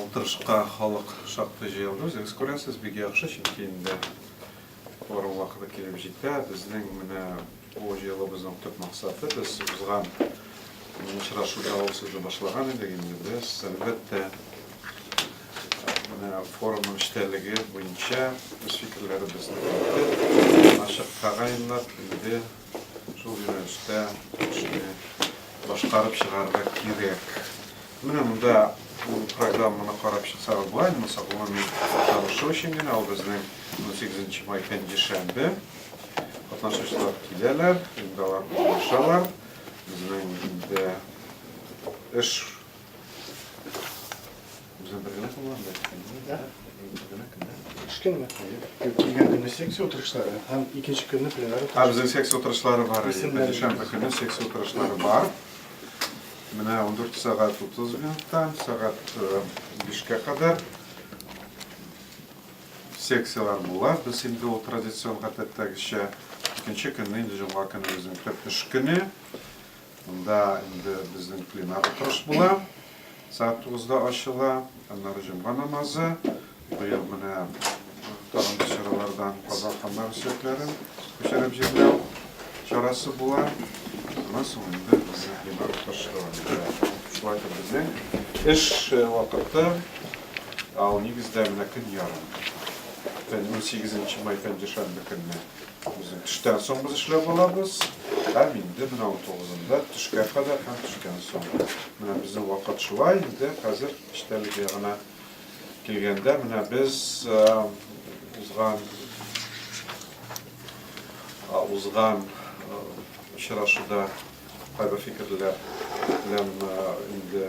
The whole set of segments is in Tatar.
Утырышка халык шактый җыелды. Үзегез күрәсез, бик яхшы, чөнки инде бару вакыты килеп җитә. Безнең менә Бу җыелуыбызның төп максаты, без узган очрашуда ул сүзне башлаган идек инде, без, әлбәттә, менә форумның эчтәлеге буенча үз фикерләребезне әйтеп, ачык тәгаенлап, инде шул юнәлештә эшне башкарып чыгарга кирәк. Менә монда программаны карап чыксагыз, болай булмаса, гомуми танышу өчен генә, ул безнең 18 май пәнҗешәмбе. Катнашучылар киләләр, инде алар булышалар. Безнең инде эш Үзем бергә булам, да. Кичкенме? Килгән көне секция утырышлары һәм икенче көнне пленар. Һәм безнең секция утырышлары бар. Дүшәмбе көне секция утырышлары бар. Менә 14 сәгать 30 минуттан сәгать 5-кә кадәр Секцияләр була. Без инде ул традицион гадәттәгечә икенче көнне инде җомга көне безнең төп эш көне. Монда инде безнең пленар утырыш була. Сәгать тугызда ачыла. Аннары җомга намазы. Быел менә тагын да чаралардан казан ханнары сөякләрен күчереп җирләү чарасы була. Аннан соң инде безнең пленар утырышы дәвам итә. Шулай итеп безнең эш вакыты Ә ул нигездә менә көн ярым. Фән, унсигезенче май пәнҗешәмбе көнне безнең төштән соң без эшләп алабыз. Һәм инде менә унтугызында төшкә кадәр һәм төштән соң. Менә безнең вакыт шулай инде хәзер эчтәлек ягына килгәндә менә без узган узган очрашуда кайбер фикерләр белән инде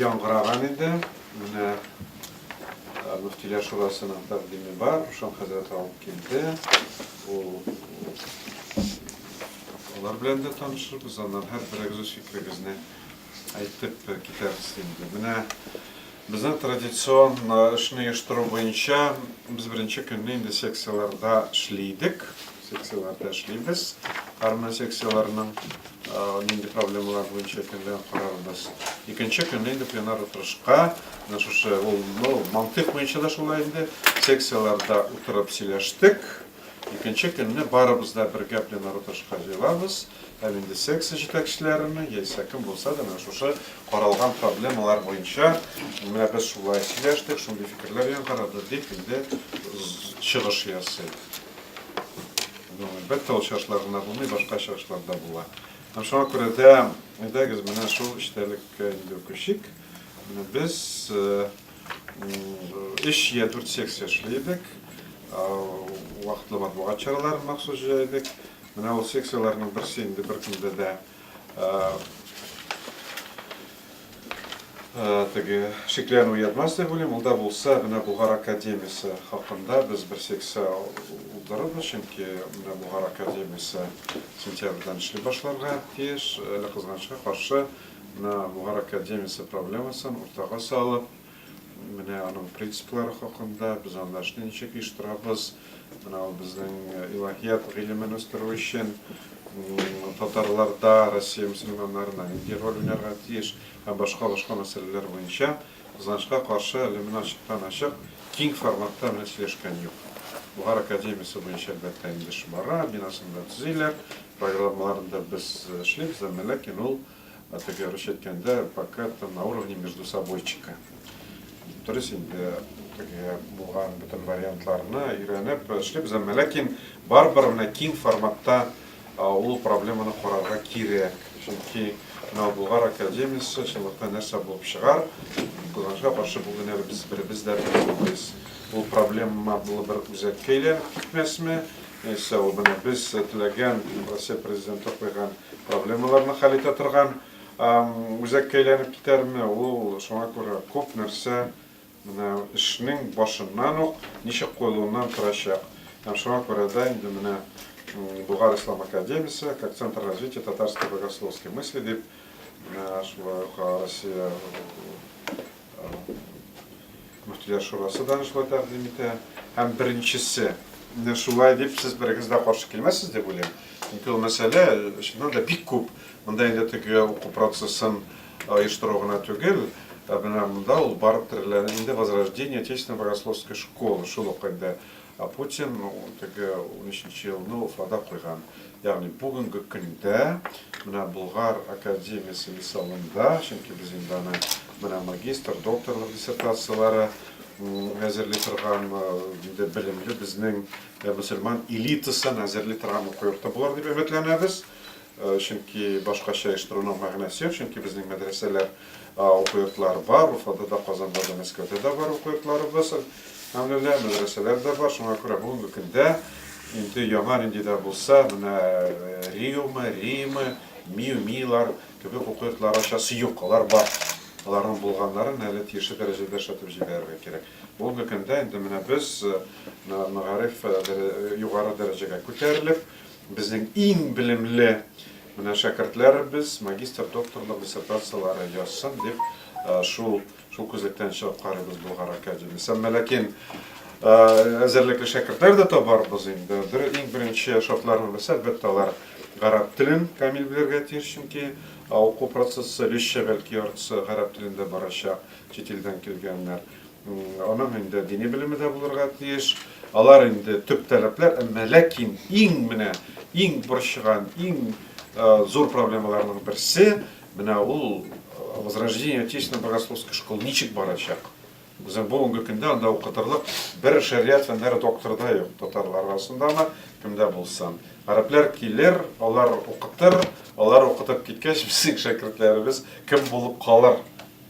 Яңгыраган инде. Менә мөфтиләр шурасының тәкъдиме бар, Рушан хәзрәт алып килде. Ул алар белән дә танышырбыз, аннан һәр берегез фикерегезне әйтеп китәрбез инде. Менә безнең традицион эшне оештыру буенча без беренче көнне инде секцияләрдә эшли идек. Секцияләрдә эшлибез. Һәрмы секцияләрнең нинди проблемалар буенча икәнлеген карарбыз. Икенче көнне инде пленар утырышка, менә шушы ул, ну, мантыйк буенча да шулай инде, секцияләрдә утырып сөйләштек. Икенче көнне барыбыз да бергә пленар утырышка җыелабыз. Һәм инде секция җитәкчеләренең, яисә кем булса да, менә шушы каралган проблемалар буенча, менә без шулай сөйләштек, шундый фикерләр яңгырады, дип инде чыгыш ясый. Бер тал чашлар гына булмый, башка чашлар да була. Шуңа күрә дә, әйдәгез, менә шул эчтәлеккә инде күчик. Без өч я дүрт секция эшли идек. Вакытлы матбугат чараларын махсус җәйдек. Менә ул секцияләрнең берсе инде беркемдә дә теге шикләнү уятмас дип уйлыйм. Ул да булса, менә Булгар академиясе хакында без бер секция уздырырбыз, чөнки менә Булгар академиясе сентябрьдән эшли башларга тиеш. Әле кызганычка каршы, менә Булгар академиясе проблемасын уртага салып, Менә аның принциплары хакында, без анда эшне ничек оештырабыз, менә ул безнең илаһият гыйлемен үстерү өчен татарларда Россия мөселманнарына нинди роль уйнарга тиеш һәм башка-башка мәсьәләләр буенча, кызганычка каршы, әле менә ачыктан-ачык киң форматта менә сөйләшкән юк. Бохар академиясе буенча, әлбәттә, инде эш бара, бинасын да төзиләр, программаларын да без эшлибез, әмма ләкин ул Это короче әйткәндә пока это на уровне между собойчика дөрес инде теге булган бөтен вариантларны өйрәнеп эшлибез әмма ләкин барыбер менә киң форматта ул проблеманы карарга кирәк чөнки менә булгар академиясе чынлыкта нәрсә булып чыгар кызганычка каршы бу генә без беребез дә белмибез ул проблема булып бер үзәккә әйләнеп китмәсме яисә ул менә без теләгән россия президенты куйган Проблемаларны хәл итә торган үзәккә әйләнеп китәрме ул? Шуңа күрә күп нәрсә менә эшнең башыннан ук ничек куелуыннан торачак. Һәм шуңа күрә дә инде менә Болгар ислам академиясе, как центр развития татарской богословской мысли дип, менә шулай ук Россия Мөфтиләр шурасы да шулай тәкъдим итә. Һәм беренчесе менә шулай дип сез берегез дә каршы килмәссез дип уйлыйм. Чөнки ул мәсьәлә чыннан да бик күп. Монда инде теге уку процессын оештыру гына түгел, ә менә монда ул барып терелә. Инде возрождение отечественной богословской школы шул ук инде Ә Путин теге унөченче елны Уфада куйган. Ягъни бүгенге көндә менә Болгар академиясе мисалында, чөнки без инде аны менә магистр, докторлык диссертацияләре әзерли торган, инде белемле безнең мөселман элитасын әзерли торган уку йорты булыр дип өметләнәбез. Чөнки башкача оештыруның мәгънәсе юк, чөнки безнең мәдрәсәләр Уку йортлары бар, Уфада да, Казанда да, Мәскәүдә дә бар уку йортларыбыз. Әлхәмдулиллаһ, мәдрәсәләр дә бар. Шуңа күрә бүгенге көндә инде яңа нинди дә булса, менә Риомы, Римы, Миу, Милар кебек уку йортлары ачасы юк, алар бар. Аларның булганнарын әле тиешле дәрәҗәдә эшләтеп җибәрергә кирәк. Бүгенге көндә инде менә без мәгариф югары дәрәҗәгә күтәрелеп, безнең иң белемле Менә шәкертләребез магистр, докторлык диссертацияләре язсын дип, шул шул күзлектән чыгып карыйбыз Болгар академиясе. Менә ләкин әзерлекле шәкертләр дә табарбыз инде. Бер иң беренче шартларны белсә, әлбәттә, алар гарәп телен камил белергә тиеш, чөнки уку процессы биш шәбәлки яртысы гарәп телендә барачак, чит илдән килгәннәр. Аның инде дини белеме дә булырга тиеш. Алар инде төп таләпләр, әмма ләкин иң менә иң борчыган, иң зур проблемаларның берсе менә ул возрождение отечественной богословской школы ничек барачак? Үзем бүгенге көндә анда укытырлык бер шәрия фәннәре докторы да юк татарлар арасында ма, кемдә булса. Гарәпләр килер, алар укытыр, алар укытып киткәч, безнең шәкертләребез кем булып калыр?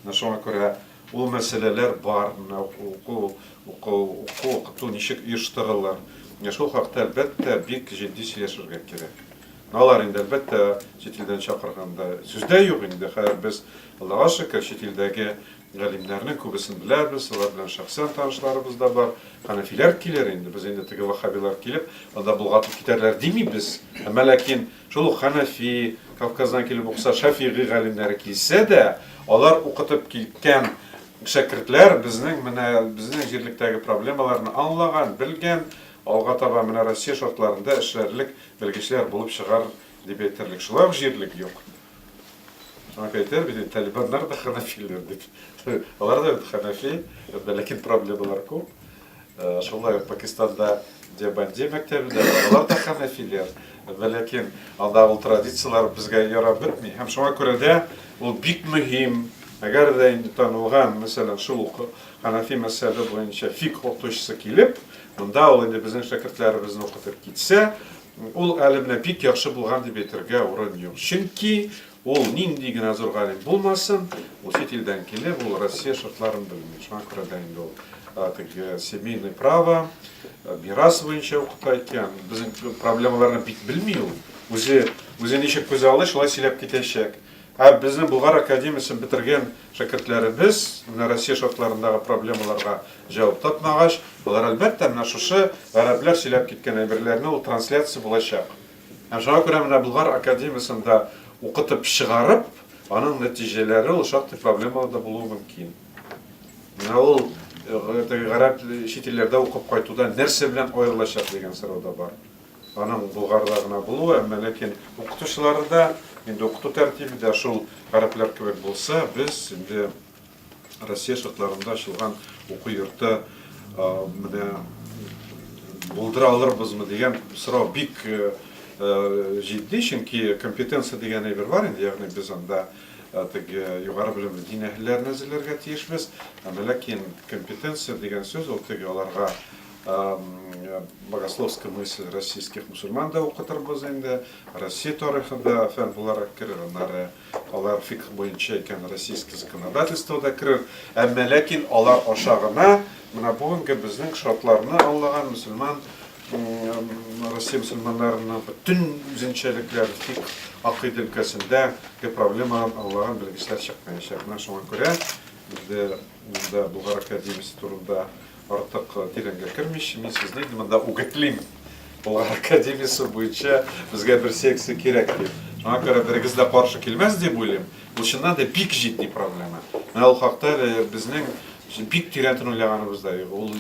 Менә шуңа күрә Ул мәсьәләләр бар, менә уку, уку, уку, укыту ничек оештырылыр, менә шул хакта, әлбәттә, бик җитди сөйләшергә кирәк. Менә алар инде, әлбәттә, чит илдән чакырганда сүз дә юк инде, хәер, без, Аллага шөкер, чит илдәге галимнәрнең күбесен беләбез, алар белән шәхсән танышларыбыз да бар. Хәнәфиләр килер инде, без инде теге ваһһабилар килеп, анда болгатып китәрләр димибез, әмма ләкин Шул ук Хәнәфи, Кавказдан килеп укыса, Шәфигый галимнәре килсә дә, алар укытып киткән шәкертләр безнең менә безнең җирлектәге проблемаларны аңлаган, белгән, алга таба менә Россия шартларында эшләрлек белгечләр булып чыгар дип әйтерлек. Шулай ук җирлек юк. Шуңа әйтәр бит, талибаннар да хәнәфиләр бит. Алар да бит хәнәфи, ләкин проблемалар күп. Шулай ук Пакистанда Дебанди мәктәбе дә бар, алар да хәнәфиләр. Вә ләкин анда ул традицияләр безгә ярап бетми. Һәм шуңа күрә дә ул бик мөһим. Әгәр дә инде танылган, мәсәлән, шул ук хәнәфи мәзһәбе буенча фикһ укытучысы килеп, монда ул инде безнең шәкертләребезне укытып китсә, ул әле менә бик яхшы булган дип әйтергә урын юк. Чөнки Ул нинди генә зур галим булмасын, ул чит илдән килеп, ул Россия шартларын белми. Шуңа күрә дә инде ул теге семейный право, мирас буенча укыта икән. Безнең проблемаларны бик белми ул. Үзе, үзе ничек күз алды, шулай сөйләп китәчәк. Ә безнең Болгар академиясен бетергән шәкертләребез менә Россия шартларындагы проблемаларга җавап тапмагач, алар, әлбәттә, менә шушы гарәпләр сөйләп киткән әйберләрне ул трансляция булачак. Ә шуңа күрә менә Болгар академиясендә укытып чыгарып, аның нәтиҗәләре ул шактый проблемалы да булуы мөмкин. Менә ул теге гарәп чит илләрдә укып кайтуда нәрсә белән аерылачак дигән сорау да бар. Аның Болгарда гына булуы, әмма ләкин укытучылары да, инде укыту тәртибе дә шул гарәпләр кебек булса, без инде Россия шартларында ачылган уку йорты менә булдыра алырбызмы дигән сорау бик җитди, чөнки компетенция дигән әйбер бар инде, ягъни без анда теге югары белемле дин әһелләрен әзерләргә тиешбез, әмма ләкин компетенция дигән сүз ул теге аларга богословская мысль российских мусульман да укытырбыз инде, Россия тарихы да фән буларак керер, аннары Алар фикх буенча икән, российский законодательство да керер, әмма ләкин алар аша гына менә бүгенге безнең шартларны аңлаган мөселман, Россия мөселманнарының бөтен үзенчәлекләр, фикх, акыйдә өлкәсендә ге проблемаларын аңлаган белгечләр чыкмаячак. Менә шуңа күрә Инде мин дә Болгар академиясе турында артык тирәнгә кермичә, мин сезне инде монда үгетлим. Болгар академиясе буенча безгә бер секция кирәк дип. Шуңа күрә берегез дә каршы килмәс дип уйлыйм. Бу чыннан да бик җитди проблема. Менә ул хакта безнең бик тирәнтен уйлаганыбыз да юк. Ул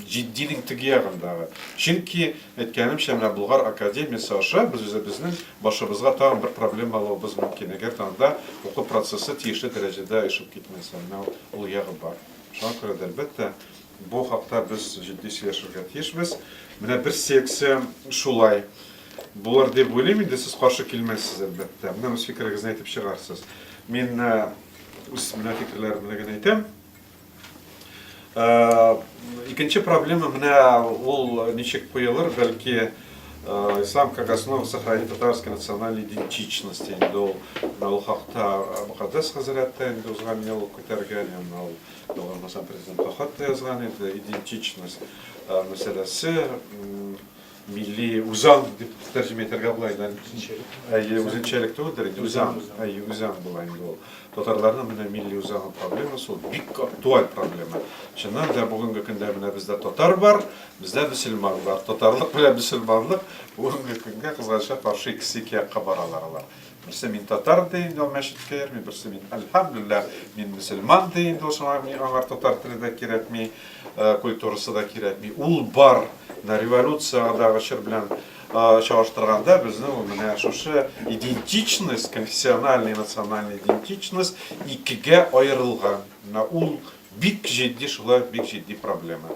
җитдилек теге ягындагы. Чөнки, әйткәнемчә, менә Болгар академиясе аша без үзебезнең башыбызга тагын бер проблема алуыбыз мөмкин, әгәр дә анда уку процессы тиешле дәрәҗәдә оешып китмәсә. Менә ул ягы бар. Шуңа күрә дә, әлбәттә, бу хакта без җитди сөйләшергә тиешбез. Менә бер секция шулай булыр дип уйлыйм инде, сез каршы килмәссез, әлбәттә. Менә үз фикерегезне әйтеп чыгарсыз. Мин үз менә фикерләремне генә әйтәм. Э, икенче проблема менә ул ничек куелыр, бәлки э, ислам как основа сохранить татарской национальной идентичности. Инде ул менә ул хакта э, Мөхәддәс хәзрәт тә инде узган ел күтәргән, һәм ул Дәүләт президент хат та язган иде, идентичность мәсьәләсе. Милли үзаң дип тәрҗемә итәргә була инде. Әйе, үзенчәлек түгелдер инде, үзаң. Әйе, үзаң була инде ул. Татарларның менә милли үзаң проблемасы ул бик актуаль проблема. Чыннан да бүгенге көндә менә бездә татар бар, бездә мөселман бар. Татарлык белән мөселманлык бүгенге көнгә кызганычка каршы икесе ике якка баралар алар. Берсе мин татар ди инде ул мәчеткә йөрми, берсе мин әлхәмдүлилләһ, мин мөселман ди инде ул шуңа миңа аңар татар теле дә кирәкми, э, культурасы да кирәкми. Ул бар, менә революциядагы чор белән э, чагыштырганда безнең ул менә шушы идентичность, конфессиональный и национальный идентичность икегә аерылган. Менә ул бик җитди шулай бик җитди проблема.